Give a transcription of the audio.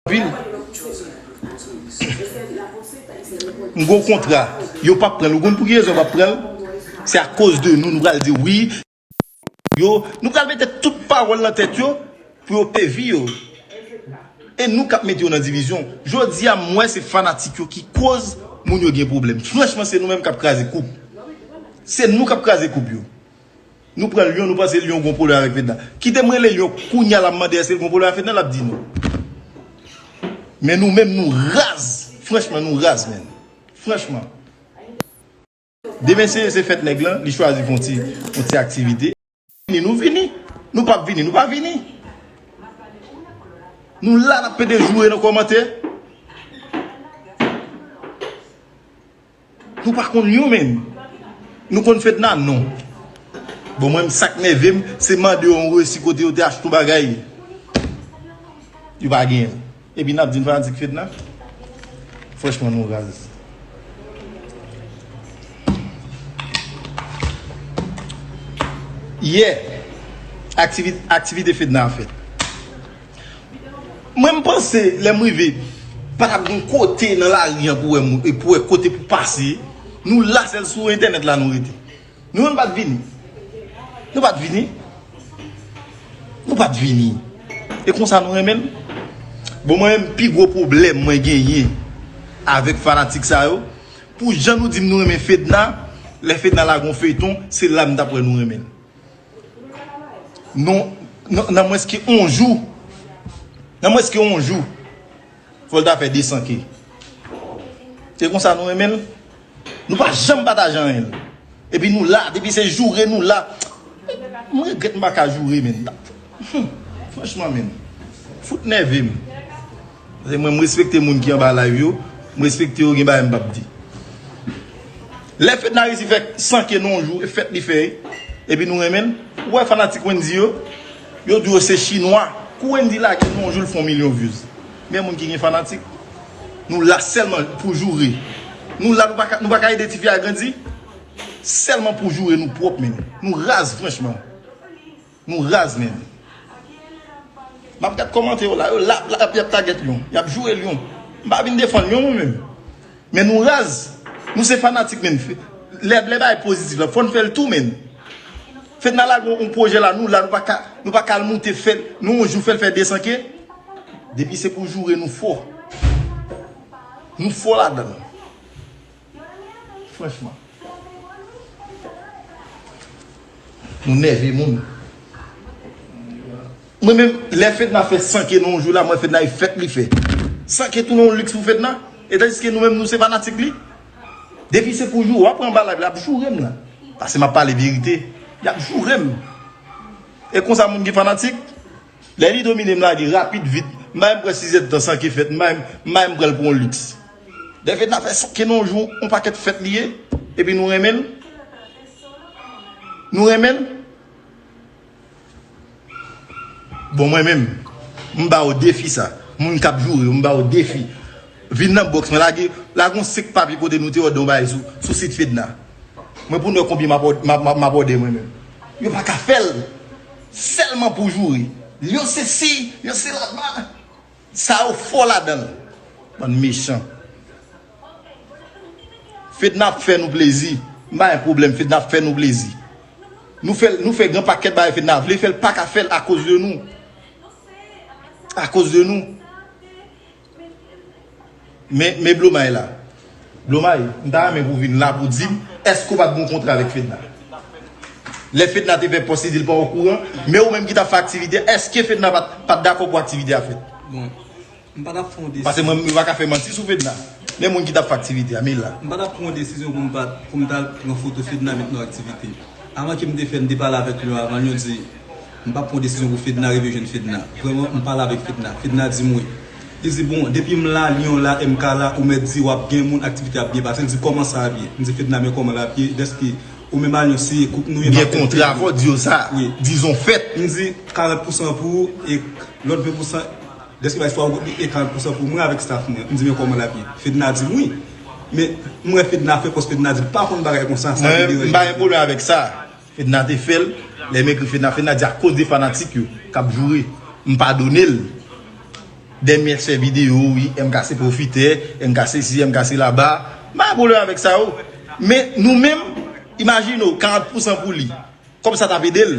Vil M gon kontra yo pap pranl ou konn pouki rezon yo pap pranl se a koz de nou nou pral di wi yo nou pral mete tout pawol nan tèt yo pou yo pvi yo e nou kap mete yo nan divizyon jodi a m wè se fanatik yo ki koz moun yo gen problem franchman se nou menm kap kraze koup se nou kap kraze koup yo. Nou pran lion nou panse lion gon pwoblèm avèk fedna kitem rele lion kounya la mande èskel gon pwoblèm avèk fedna lap di non men nou menm nou raz franchman nou raz menn franchman demen se se fèt nèg lan li chwazi fon ti fon ti aktivite vini nou vini nou pap vini nou pa vini nou la nap pede joure nan kòmantè. Nou pa konn yon menm. Nou konn fedna non. Bon mwen sak nèvem se mande yon resi kote yo te achte yon bagay yo pa genyen epi nap di n fanatik fedna franchman nou raz. Yè aktivite fedna a fèt. Mwen m panse lè m rive pa tap gen kote nan lari an pou wè moun e pou wè kote pou pase nou la sèl sou entènèt la nou rete nou menm pat vini nou pat vini nou pat vini e konsa nou renmen l bon mwen menm pi gwo pwoblèm mwen genyen avèk fanatik sa yo pou jan nou di m nou renmen fedna lè fedna lage yon feyton se la m tap wè nou renmen l. Non, nan mwens ke on jou, nan mwens ke on jou, fò l ta fè 200 ke. Se kon sa nou renmen l? Nou pa janm pataje anyen. E pi nou la, depi se joure nou la. Mwen regrèt m pa ka joure menn. Franchman menn, fout nève m. Paske mwen m respekte moun ki anba live yo, m respekte yo gen bagay m pap di. Lè Fedna resi fè 100 k nan yon jou e fèt li fè epi nou renmen l, ou wè fanatik Wendy yo, yo di yo se chinwa. Kou Wendy lage nan yon jou l fè yon milyon views. Men moun ki gen fanatik, nou la sèlman pou joure. Nou la nou pa ka ede tifi a grandi, sèlman pou joure nou pwòp men. Nou raz franchman. Nou raz menn. Map gad kòmantè yo la yo la ap yap tagè lion. Yap joure lion. M pa vin defann lion mwen menm. Men nou raz. Nou se fanatik menn. Lè bagay pozitif la fòn fèl tou menn. Fedna lage yon pwojè la nou la nou paka nou paka al moute fèl nou yon jou fèl fè 200 ke. Depi se pou joure nou fò. Nou fò ladann. Franchman. Nou nève moun. Mwen menm lè Fedna fè san ke nou jou la mwen Fedna e fèt li fè. San ke tounen yon liks pou Fedna. E tanjis ke nou menm nou se fanatik li. Depi se pou jou a pran ba live la ap joure m nan. Pase m ap pale verite. Yap joure m. E konsa moun ki fanatik. Lè li domine m lage rapid vit m bay m pran 6 èd tan san ke fèt m bay m m bay m pran l pou yon liks. Lè Fedna fè sa ke nou jou yon pakèt fèt li ye epi nou renmen l nou renmen l bon mwen menm m ba ou defi sa moun k ap joure yo m ba ou defi vin nan box mwen lage lage yon 5 papye kote nou te òdè yon bagay sou sit Fedna mwen pou nou wè konbyen m ap òdè mwen menm yo pa ka fè l. Sèlman pou joure. Yo sesi, yo sela ba. Sa yo fò ladan l. Bann mechan. Fedna ap fè nou plezi. M pa gen pwoblèm. Fedna ap fè nou plezi. Nou fè, nou fè gen pakèt bagay Fedna vle fè l pa ka fè l akoz de nou. Akoz de nou. Men Blomay la. Blomay, m ta renmen pou w vin la pou w di m èske w pa t gen yon kontra avèk Fedna. Lè Fedna te fè pòs li di l pa okouran, men ou menm ki t ap fè aktivite a, èske Fedna pa t dakò pou aktivite a fèt? Bon, m pa t ap pran yon desizyon. Pase mwen m pa ka fè manti sou Fedna. Men moun ki t ap fè aktivite a, men l la. M pa t ap pran yon desizyon pou m pa pou m t al pran foto Fedna met nan aktivite. Avan ke m te fè, m te pale avèk l yo avan l yo di. M pap pran desizyon pou fedna rive jwenn fedna vrèman m pale avèk fedna fedna dim wi li di bon depim la lion la e MK la ou mèt di wap gen moun aktivite ap byen pase li di kòman sa ap ye m di fedna men kòman lap ye dèske ou menm a lion se koup nou ye map fè tout pou ou m di 40 pousan pou ou e lòt 20 pousan dèske bay istwa ou kout li e 40 pousan pou mwen avèk staff mwen m di men kòman lap ye fedna dim wi men m wè fedna fè fòs fedna di li pa konn bagay konsa sa ki deranje m. Fedna te fèl lè m ekri fedna fedna di a koz de fanatik yo kap joure m padonel dèmyèt fè video wi MK se profitè MK sesi MK se laba m pa gen problèm avèk sa yo men nou menm imajine w 40 pousan pou li kòb sa tap edel.